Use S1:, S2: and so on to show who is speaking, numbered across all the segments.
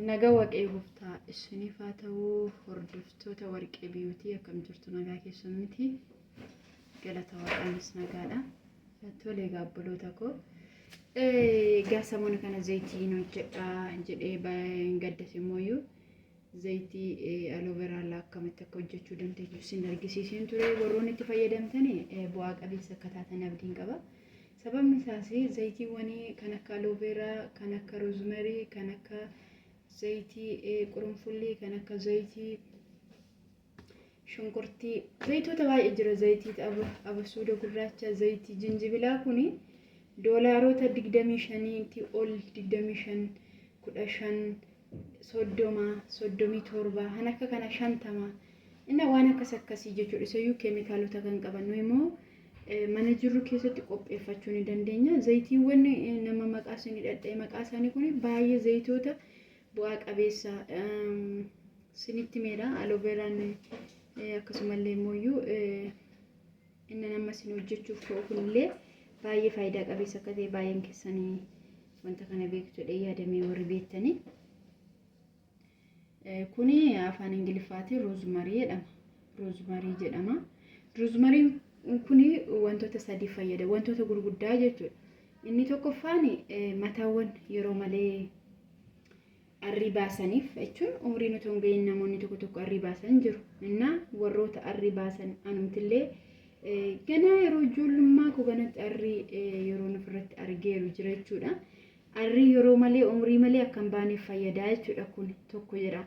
S1: Naga waqee goftaa isiniif haa ta'uu hordoftoota warqee biyuutii akkam jirtu nagaa keessan miti galata waaqaanis nagaadha tole egaa obboloota koo egaa samoona kana zaytiin hojjedha jedhee gaddas immoo Zayitii alooveraalaa akkamitti akka hojjechuu dandeessu isin argisiiseen ture. Warroonni itti fayyadamtan bu'aa qabeessa akka taatan abdiin qaba. Sababni isaas zayitiiwwanii kan akka alooveeraa, kan akka roozmarii, kan akka zayitii qurunfullii, kan akka zayitii shunkurtii zayitoota baay'ee jira zayitii abasuuda gurraacha zayitii jinjibilaa kun doolaaroota 25ti ol 25 15 soddoma soddomii torba kan akka kana shantama inna waan akkas akkasii jechuudha isayyuu keemikaalota kan qaban nuyi immoo mana jirru keessatti qopheeffachuu ni dandeenya zayitiiwwan nama maqaa isaanii dhadha'e maqaa isaanii kun baay'ee zayitoota bu'aa qabeessa sinitti meedha aloveeraan akkasumallee mooyyuu inni nama sin hojjechuuf ta'u kunillee baay'ee faayidaa qabeessa akka ta'e baay'een keessanii wanta kana beektu jedhee yaadamee warri beektanii. Kuni afaan Ingiliffaatiin roozmarii jedhama. Roozmarii jedhama. Roozmariin kuni wantoota sadii fayyada. Wantoota gurguddaa jechuudha. Inni tokkoffaan mataawwan yeroo malee arrii baasaniif jechuun umriin otoo hin ga'iin namoonni tokko tokko arrii baasan jiru. Innaa warroota arrii baasan anumtillee ganaa yeroo ijoollummaa koo ganatti arrii yeroo ofirratti argeeru jira jechuudha. Arrii yeroo malee umrii malee akka hin baaneef fayyadaa jechuudha kun tokko jedha.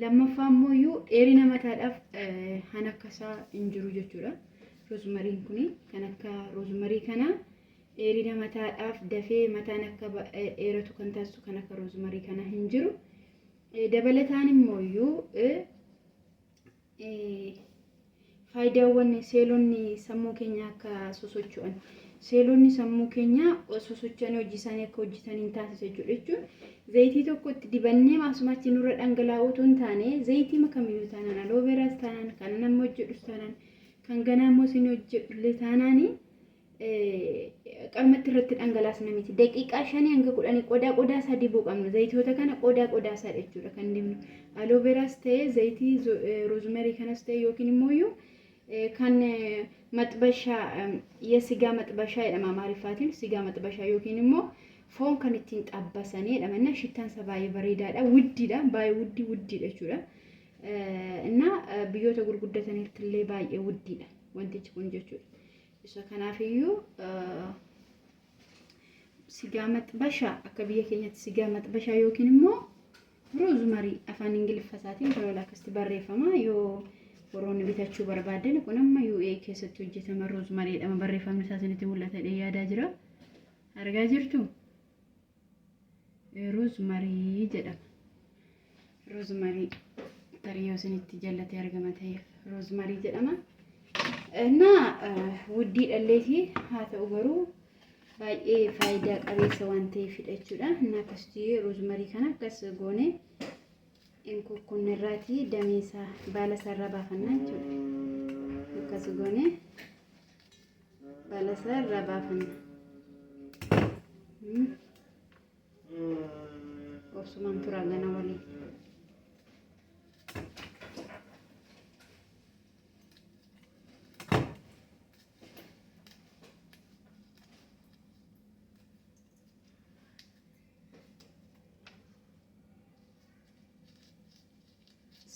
S1: Lammaffaa immoo iyyuu dheerina mataadhaaf kan akkasaa hin jiru jechuudha. Roozumariin kun kan akka roozumarii kanaa Dheerina mataadhaaf dafee mataan akka dheeratu kan taasisu kan akka roozmarii kana hin jiru. Dabalataan immoo iyyuu faayidaawwan seelonni sammuu keenya akka sosocho'an seelonni sammuu keenya sosocho'anii hojii isaanii akka hojjetan hin taasisa jechuudha jechuun zayitii tokko itti dibannee maasumaatti nurra dhangalaa'uu utuu hin taane zayitii makamiyyuu taanaan alooveeraas taanaan kanan amma hojjedhus taanaan kan ganaa immoo isin hojjedhullee taanaanii qalmatti irratti dhangalaasna miti. Daqiiqaa shanii hanga kudhanii qodaa qodaa isaa dibuu qabna. Zayitoota kana qodaa qodaa isaa jechuudha kan dibnu. Alooveraas ta'ee zayitii roozmerii kanas ta'ee yookiin immoo kan maxbashaa yesigaa maxbashaa jedhama amaariffaatiin sigaa maxbashaa yookiin immoo foon kan ittiin xabbasanii jedhama. Innaa shittaan isaa baay'ee bareedaadha. Wuddiidha baay'ee wuddii wuddiidha jechuudha. Innaa biyyoota gurguddatanitti illee baay'ee wuddiidha wantichi kun jechuudha. Isa kanaafiyyuu sigaa maxbashaa akka biyya keenyatti sigaa maxbashaa yookiin immoo roozmarii afaan ingiliffa isaatiin baloola akkasitti barreeffama yoo warroonni bitachuu barbaadan kun amma UA keessatti hojjetama roozmarii jedhama barreeffamni isaa isinitti mul'ata jedhee yaadaa jira argaa jirtu. Rozmarii jedhama. Rozmarii tarii yoo isinitti jallatee argama ta'eef rozmarii jedhama. Innaa wuddii dhalleetii haa ta'u garuu baay'ee faayidaa qabeessa waan ta'eefidha jechuudha. Innaa akkasitti rozmarii kana akkas goone hin kukkunne irraatii damee isaa baala isaa irraa baafanna jechuudha. Akkas goone. Balasa irraa baafanna. Hmm. Obsumaan turaa gana waliin.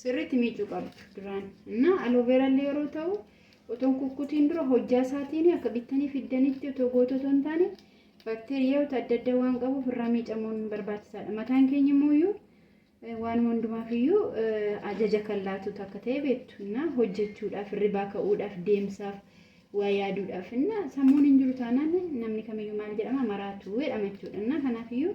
S1: Sirriitti miicuu qabdu duraan. Innaa alooveeraa illee yeroo ta'u otoo hin kukkutiin dura hojjaa isaatiin akka bittanii fiddanitti otoo gootu otoo hin taane baakteeriyaawota adda addaa waan qabuuf irraa miicamuun barbaachisaadha. Mataan keenya immoo iyyuu waan hundumaaf iyyuu ajaja kan laatutu akka ta'e beektu. Innaa hojjechuudhaaf, hirribaa ka'uudhaaf, deemsaaf, waa yaaduudhaaf. Innaa sammuun hin jiru taanaan namni kamiyyuu maal jedhama maraatuu jedhama jechuudha. Innaa kanaaf iyyuu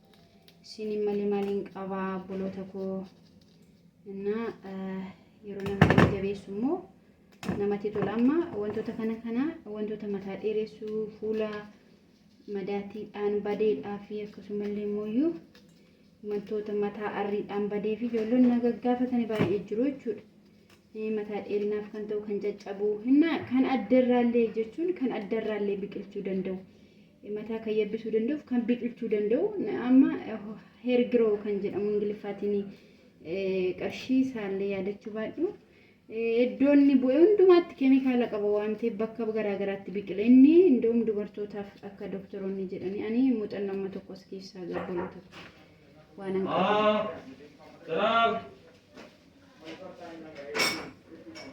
S1: Isiin malee maaliin qabaa obboloota koo innaa yeroo nama jajjabeessu immoo namatti tola. Amma wantoota kana kana wantoota mataa dheeressuu fuula madaatiidhaan badeedhaa fi akkasumallee immoo wantoota mataa arriidhaan badee fi ijoolleen na gaggaafatani baay'ee jiru jechuudha. Mataa dheerinaaf kan ta'u kan caccabu innaa kan addarraallee jechuun kan addarraallee biqilchuu danda'u. mataa kan yabbisuu danda'u fi kan biqilchuu danda'u amma heer giroo kan jedhamu ingiliffaatiin qarshii isaallee yaadachuu baadhu iddoon inni bu'e hundumaatti keemikaala qaba waan ta'eef bakka garaagaraatti biqila inni iddoom dubartootaaf akka doktoroonni jedhanii ani muuxannoo amma tokkos keessaa gabbaloota waan an qabu.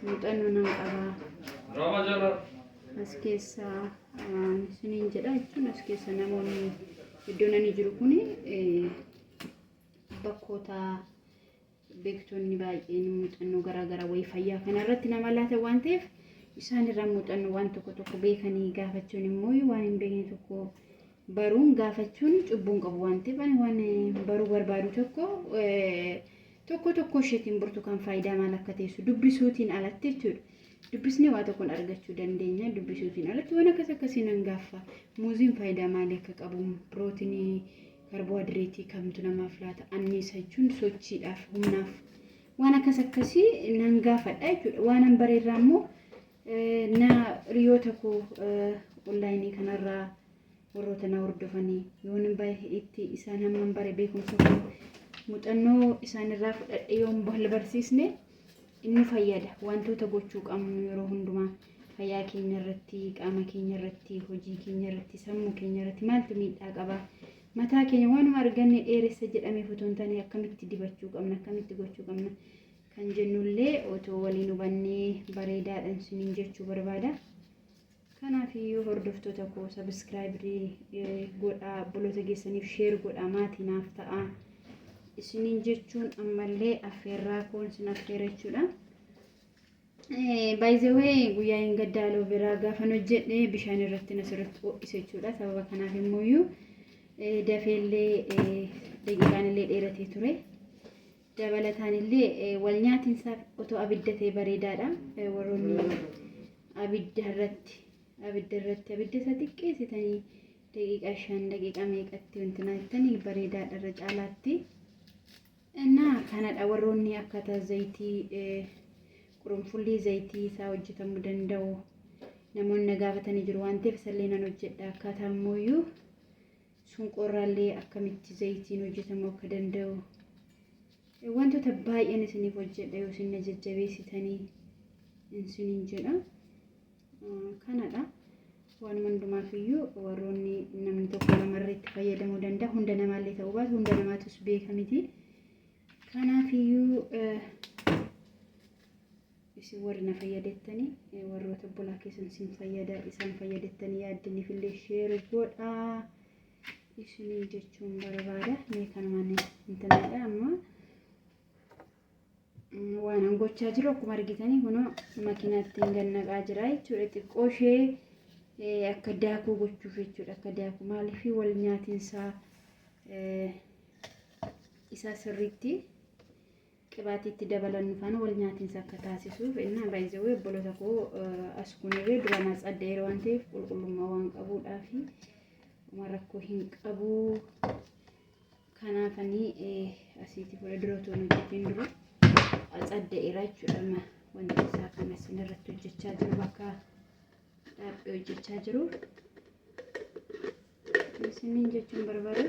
S1: muuxannoo nan qabaa as keessa isiniin jedha jechuun as keessa namoonni iddoo nani jiru kun bakkoota beektonni baay'een muuxannoo garaagaraa wayii fayyaa kanarratti nama laata waan ta'eef isaan irraa muuxannoo waan tokko tokko beekanii gaafachuun immoo waan hin beekne tokko baruun gaafachuun cubbuun qabu waan ta'eef ani waan baruu barbaadu tokko Tokkoo tokkoo isheetiin burtukaan faayidaa maal akka teessu dubbisuutiin alatti jechuudha. Dubbisnee waa tokkoon argachuu dandeenya. Dubbisuutiin alatti waan akkas akkasii nan gaaffa. Muuziin faayidaa maalii akka qabu, pirootinii, kaarboohaydireetii kamtu namaaf laata, anniisa jechuun sochiidhaaf, humnaaf waan akkas akkasii nan gaafadha jechuudha. Waanan bareerraa immoo na hiriyoota koo onlaayinii kanarraa warroota na hordofanii yoon bahe itti isaan hamman bare beekumsa koo muuxannoo isaanirraa fudhadhe yoon wal barsiisne inni fayyada wantoota gochuu qabnu yeroo hundumaa fayyaa keenya irratti qaama keenya irratti hojii keenya irratti sammuu keenya irratti maaltu miidhaa qaba mataa keenya waanuma arganne dheeressa jedhamee otoo hin taane akkamitti dibachuu qabna akkamitti gochuu qabna kan jennullee otoo waliin hubannee bareedaadhaan isiniin jechuu barbaada. Kanaaf iyyuu hordoftoota koo sabiskiraayibri godhaa obboloota keessaniif sheer godhaa maatii naaf ta'aa isiniin jechuun ammallee affeerraa koon sin affeera jechuudha. Baay'izawee guyyaa hin gaddaa alooveraa gaafan hojjedhe bishaan irratti nasirratti ho'ise jechuudha. Sababa kanaaf immoo iyyuu dafeellee daqiiqaan illee dheeratee ture. Dabalataan illee walnyaatinsaaf otoo abidda ta'e bareedaadha. Warroonni abidda irratti abidda irratti abidda isa xiqqeessitanii daqiiqaa shan daqiiqaa meeqatti wanti naattanii bareedaadha irra caalaatti. Innaa kanadha warroonni akkaataa zayitii qurunfullii zayitii isaa hojjetamuu danda'u namoonni na gaafatanii jiru waan ta'eef isallee nan hojjedha akkaataa ammoo sunqoorraallee akkamitti zayitiin hojjetamuu akka danda'u wantoota baay'een isiniif hojjedha yoo isin na jajjabeessitanii isiniin jedha kanadha waan hundumaaf iyyuu warroonni namni tokko lamarra itti fayyadamuu danda'a hunda namaallee ta'uu baatu hunda namaatus beeka miti kanaaf iyyuu Isin warri na fayyadettani warroota obbolaa keessan sin fayyada isaan fayyadettani yaaddinifillee share godha isiniin jechuun barbaada mee kanumaan intanadha amma waan an gochaa jiru akkuma argitanii kunoo makiinaatti hin gannaqaa jira jechuudha xiqqoo ishee akka daakuu gochuuf jechuudha akka daakuu maaliif wal nyaatinsaa isaa sirriitti Qibaatii itti dabalannu faana wal nyaatinsa akka taasisuuf innaa baay'ee obboloota koo as kunirree duraan as addeera waan ta'eef qulqullummaa waan qabuudhaa fi waan rakkoo hin qabu. Kanaafanii asiitii fuula dura otoo hin hojjetiin dura as addeera jechuudha wanti isaa kan isin irratti hojjechaa jiru bakka dhaabbee hojjechaa jiru. Isiniin jechuun barbaada.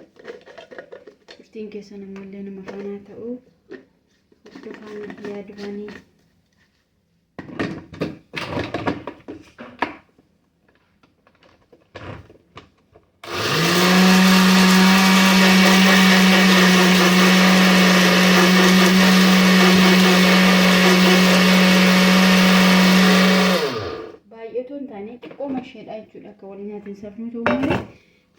S1: Turtiin keessan ammallee nama faanaa ta'u hordofaan biyyaa duraanii. Baay'ee otoo hin taane xiqqooma isheedha jechuudha akka wal nyaatiin safnuu ta'u malee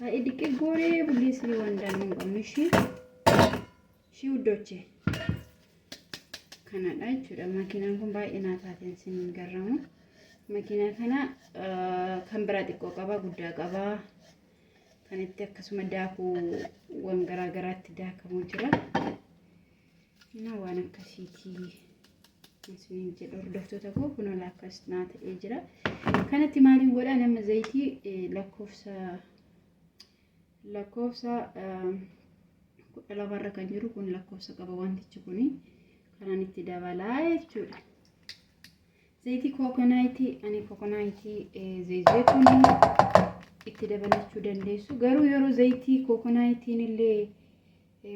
S1: baay'ee diqqee gooree bullee siree waan daannuu hin qabne ishii ishii uddochee. kanadha jechuudha makiinaan kun baay'ee naa taateen sin garramu makiinaa kana kan biraa xiqqoo qaba guddaa qaba kan itti akkasuma daakuu waan garaa garaatti daakamu jira Innaa waan akkasiitii isiniin jedha hordoftoota koo kunoo laakkas naa ta'ee jira. Kanatti maaliin godha nama zayitii lakkoofsa lakkoofsa kudha lamarra kan jiru kun lakkoofsa qaba wantichi kun kanaan itti dabalaa jechuudha. Zayitii kookonaayitii ani kookonaayitii zayitee kun itti dabalachuu dandeessu garuu yeroo zayitii kookonaayitiin illee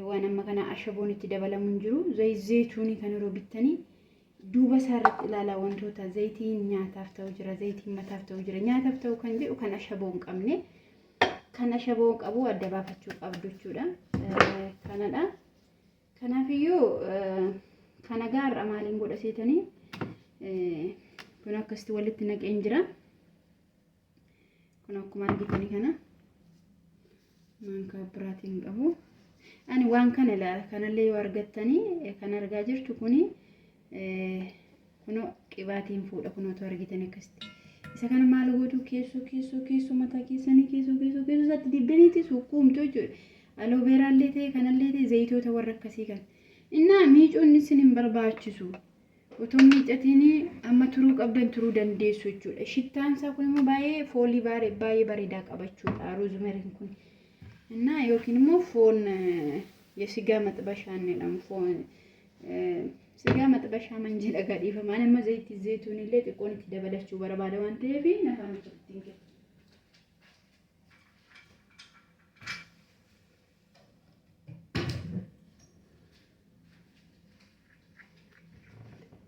S1: Waan amma kana ashaboon itti dabalamu hin jiru. Zayit zayituunii kan yeroo bittanii duuba isaa irratti ilaalaa wantoota zayitiin nyaataaf ta'u jira, zayitiin mataaf ta'u jira. Nyaataaf ta'u kan jedhu kan ashaboo hin qabne. Kan ashaboo qabu adda baafachuu qabdu jechuudha. Kanadha. Kanaafiyyuu kana gaarra maaliin godha seetanii kun akkasitti walitti naqeen jira. kun akkuma argitani kana maankaa biraatiin qabu ani waan kana ilaala kanallee yoo argattanii eh, kan argaa jirtu kuni eh, kunoo qibaatiin fuudha kunootu argitan akkasitti isa kana maal gootu keessoo keessoo keessoo mataa keessanii keessoo keessoo keessoo isaatti dibdaniiti sukkuumtu jechuudha alooveeraallee ta'e kanallee ta'e zayitoota warra akkasii kan innaa miicuun isin hin barbaachisu Utuu hin miiccatiin amma turuu qabdan turuu dandeessu jechuudha. Shittaan isaa kun immoo baay'ee foolii baay'ee bareedaa qaba jechuudha roozimeriin kun. Innaa yookiin immoo foon yesigaa maxibashaan jedhamu foon sigaa maxibashaa man jedha gadhiifama. Ani amma zayitii zayituun illee xiqqoon itti dabalachuu barbaada waan ta'eef nafaan itti hin kennu.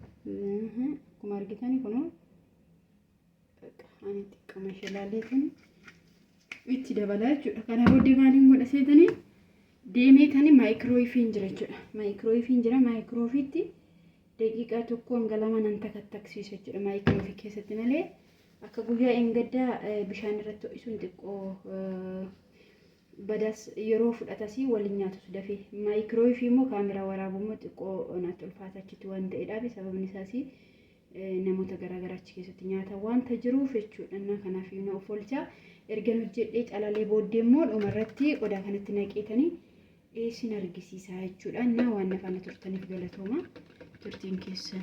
S1: akkuma argitan kun ani xiqqama ishee laaleetiin itti dabalaa jechuudha kana booddee maaliin godha seetanii deemee tani maayikirooyifiin jira jechuudha maayikirooyifiin jira maayikiroofiitti daqiiqaa tokko hanga lama nan takattaksiisa jechuudha maayikiroofi keessatti malee akka guyyaa engaddaa bishaan irratti ho'isuun xiqqoo badas yeroo fudhatasii wal hin nyaatus dafee. Maayikiroowifii immoo kaameraa waraabu immoo xiqqoo naatti ulfaata achitti waan ta'edhaafi sababni isaas namoota garaa garaa achi keessatti nyaata wanta jiruuf jechuudha innaa kanaaf iyyuu na of oolchaa ergan hojjedhee calalee booddee immoo dhuma irratti qodaa kanatti naqeetanii isin argisiisaa jechuudha innaa waan na faana turtaniif galatooma turtiin keessan.